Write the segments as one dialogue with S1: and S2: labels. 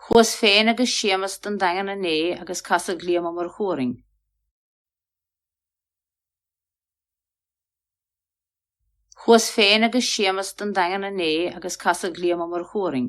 S1: Chuas féin agus Séamus don Daingean inné agus casadh Liam Ó Murchú orainn. Chuas féin agus Séamus don Daingean inné agus casadh Liam Ó Murchú orainn.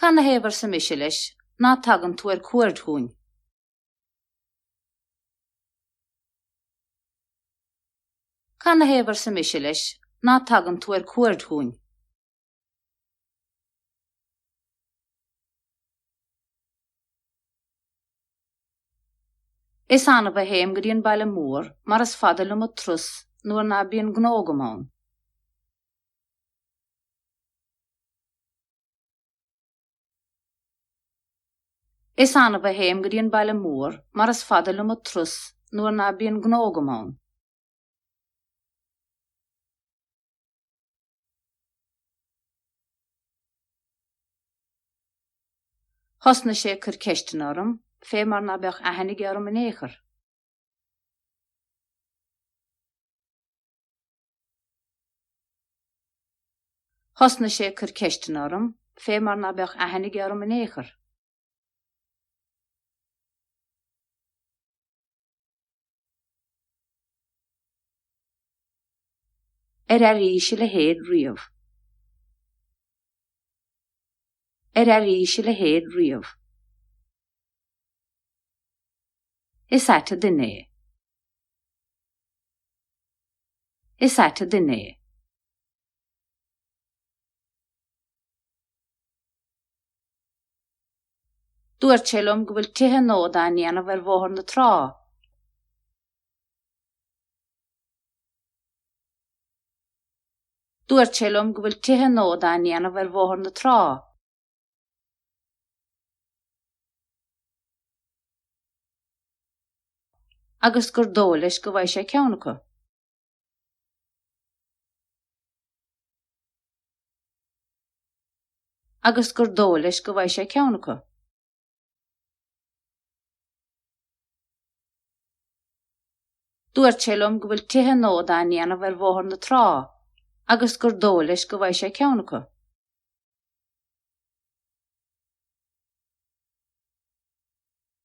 S1: Canathaobh, arsa mise leis, ná tagann tú ar cuaird chugainn? Canathaobh, arsa mise leis, ná tagann tú ar cuaird chugainn? Is annamh a théim go dtí an baile mór mar is fada liom an turas nuair ná bíonn gnó agam ann. Is annamh a théim go dtí an baile mór mar is fada liom a trus nuair ná bíonn gnó agam ann. Thosnaigh sé ag cur ceisteanna orm, fé mar ná beadh aithne aige orm in ao'chor. Thosnaigh sé ag cur ceisteanna orm, fé mar ná beadh aithne aige orm in ao'chor. Ar airís a leithéid riamh? Ar airís a leithéid riamh? Is ait an duine é. Is ait an duine é. Dúirt sé liom go bhfuil tithe nua dá ndéanamh ar Bhóthar na Trá. Dúirt sé liom go bhfuil tithe nua dá ndéanamh ar Bhóthar na Trá. agus gur dóigh leis go bhfaighidh sé ceann acu. agus gur dóigh leis go bhfaighidh sé ceann acu. Dúirt sé liom go bhfuil tithe nua dá ndéanamh ar Bhóthar na Trá agus gur dóigh leis go bhfaighidh sé ceann acu.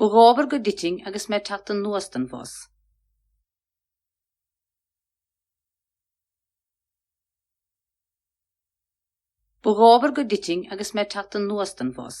S1: Ba dhóbair go dtitfinn agus mé ag teacht anuas den bhus. Ba dhóbair go dtitfinn agus mé ag teacht anuas den bhus.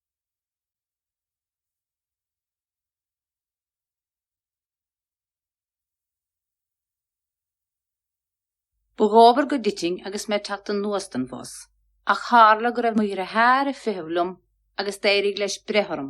S1: Ba dhóbair go dtitfinn agus mé ag teacht anuas den bhus, ach tharla go raibh mo dheartháir ag feitheamh liom agus d'éirigh leis breith orm.